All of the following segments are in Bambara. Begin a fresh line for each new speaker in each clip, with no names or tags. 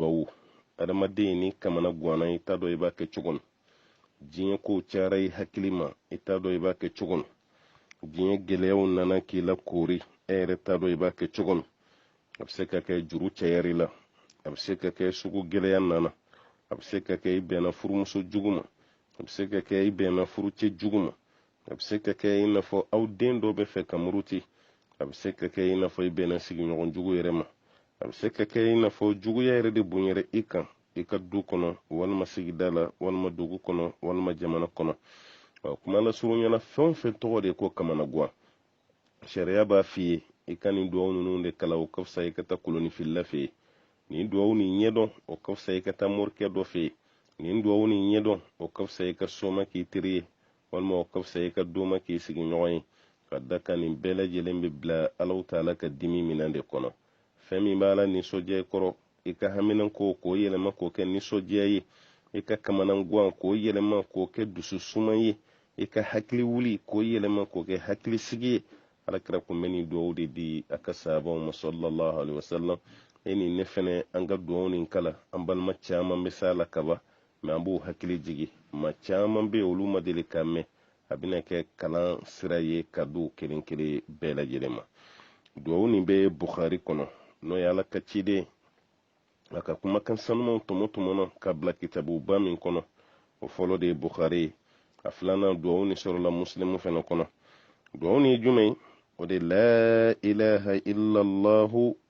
bawo adamaden ni kamana gwanna i t'a dɔn i b'a kɛ cogo min diɲɛ kow cayara i hakili ma i t'a dɔn i b'a kɛ cogo min diɲɛ gɛlɛyaw nana k'i la koori e yɛrɛ t'a dɔn i b'a kɛ cogo min a bɛ se ka kɛ juru cayar'i la a bɛ se ka kɛ sugu gɛlɛya nana a bɛ se ka kɛ i bɛnna furumuso jugu ma a bɛ se ka kɛ i bɛnna furucɛ jugu ma a bɛ se ka kɛ i n'a fɔ aw den dɔ bɛ fɛ ka muruti a bɛ se ka kɛ i n'a fɔ i bɛnna sigiɲɔgɔn jugu yɛrɛ ma a bɛ se ka kɛ i n'a fɔ juguya yɛrɛ de bonyara i kan i ka du kɔnɔ walima sigida la walima dugu kɔnɔ walima jamana kɔnɔ ɔ kuma lasurunya na fɛn o fɛn tɔgɔ de ko kamanagwan sariya b'a f'i ye i ka nin duwawu ninnu de kalan o ka fisa i ka taa kolonifilila fɛ yen nin duwawu nin ɲɛdɔn o ka fisa i ka taa morikɛ dɔ fɛ yen nin duwawu nin ɲɛdɔn o ka fisa i ka soma k'i teri ye walima o ka fisa i ka doma k'i sigiɲɔgɔn ye ka d'a kan nin bɛɛ lajɛlen b'i bila alahu taala ka dimi minɛn de kɔnɔ fɛn min b'ala nisɔndiya i kɔrɔ i ka haminanko k'o yɛlɛma k'o kɛ nisɔndiya ye i ka kamanagwan k'o yɛlɛma k'o kɛ dusu suman ye i ka hakili wuli k'o yɛlɛma k'o kɛ hakili sigi ye ala kira kun bɛ nin duwawu de di a ka sahabaw ma sallallahu alaihi wasallam e ni ne fɛnɛ an ka duwawu nin kalan an balima caman bɛ s'a la kaba mɛ an b'u hakili jigi ma caman bɛ olu ma deli k'a mɛn a bɛna kɛ kalan sira ye ka d'u kelen kelen bɛɛ lajɛlen ma duwawu nin bɛ buhari kɔnɔ n'o ye ala ka ciden a ka kumakan sanumanw tɔmɔtɔmɔna ka bila kitabuba min kɔnɔ o fɔlɔ de ye buhari ye a filanan duwawu nin sɔrɔla musilimu fɛnɛ kɔnɔ duwawu nin ye jumɛn ye o de la ilaha illallahu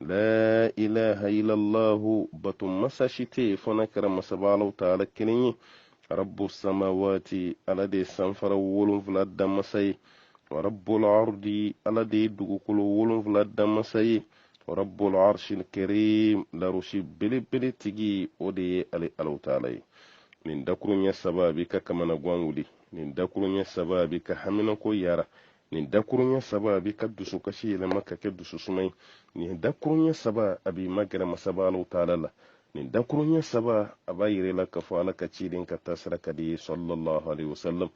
la ilaha illallahu batu masa shi tɛ fo n'a kɛra masaba alahu taala kelen ye rabbu samawati ala de sanfara wolonfila da masa ye wa rabbul ardi ala de dugukolo wolonfila da masa ye wa rabbul arshil karim larusi belebele tigi o de ye ale alahu taala ye nin dakurunya saba b'i ka kamana gwan wuli nin dakurunya saba b'i ka haminako yara nin dakurunya saba a b'i ka dusukasi yɛlɛma ka kɛ dususuma ye nin dakurunya saba a b'i magɛrɛ masaba alahu taala la nin dakurunya saba a b'a yir'i la k'a fɔ ala ka ciden ka taasira ka d'i ye sallallahu alaihi wasallam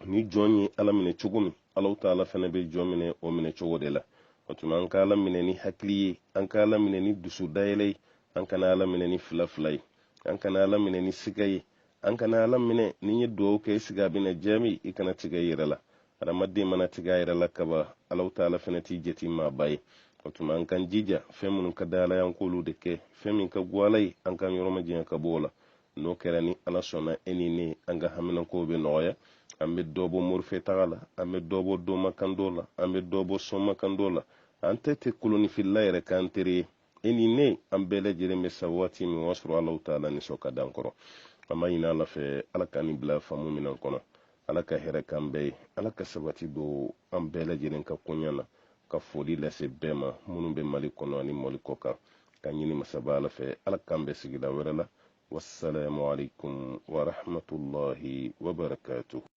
ni jɔn ye ala minɛ cogo min alahu taala fana bɛ jɔn minɛ o minɛ cogo de la o tuma an ka ala minɛ ni hakili ye an ka ala minɛ ni dusu dayɛlɛ ye an kana ala minɛ ni fila fila ye an kana ala minɛ ni siga ye an kana ala minɛ n'i ye duwawu kɛ siga bɛna jaabi i kana tigɛ i yɛrɛ la adamaden mana tigɛ a yɛrɛ la kaba alahu taala fɛnɛ t'i jate maaba ye o tuma an k'an jija fɛn minnu ka di ala y'an k'olu de kɛ fɛn min ka go ala ye an k'an yɔrɔ majanya ka bɔ o la n'o kɛra ni ala sɔnna e ni ne an ka haminankow bɛ nɔgɔya an bɛ dɔ bɔ morifɛ taga la an bɛ dɔ bɔ domakandɔ la an bɛ dɔ bɔ somakandɔ la an tɛ tɛ kolonifilila yɛrɛ k'an teri ye e ni ne an bɛɛ lajɛlen bɛ sa waati min o y'a sɔrɔ alahu taala nisɔn ka d'an kɔrɔ an b'a ɲini ala fɛ ala ka nin bila faamu minan kɔnɔ ala ka hɛrɛ k'an bɛɛ ye ala ka sabati don an bɛɛ lajɛlen ka koɲa na ka foli lase bɛɛ ma minnu bɛ mali kɔnɔ ani mali kɔkan k'a ɲini masaba ala fɛ ala k'an bɛn sigida wɛrɛ la wassalamu alaikum warahmatullahi wabarakatuh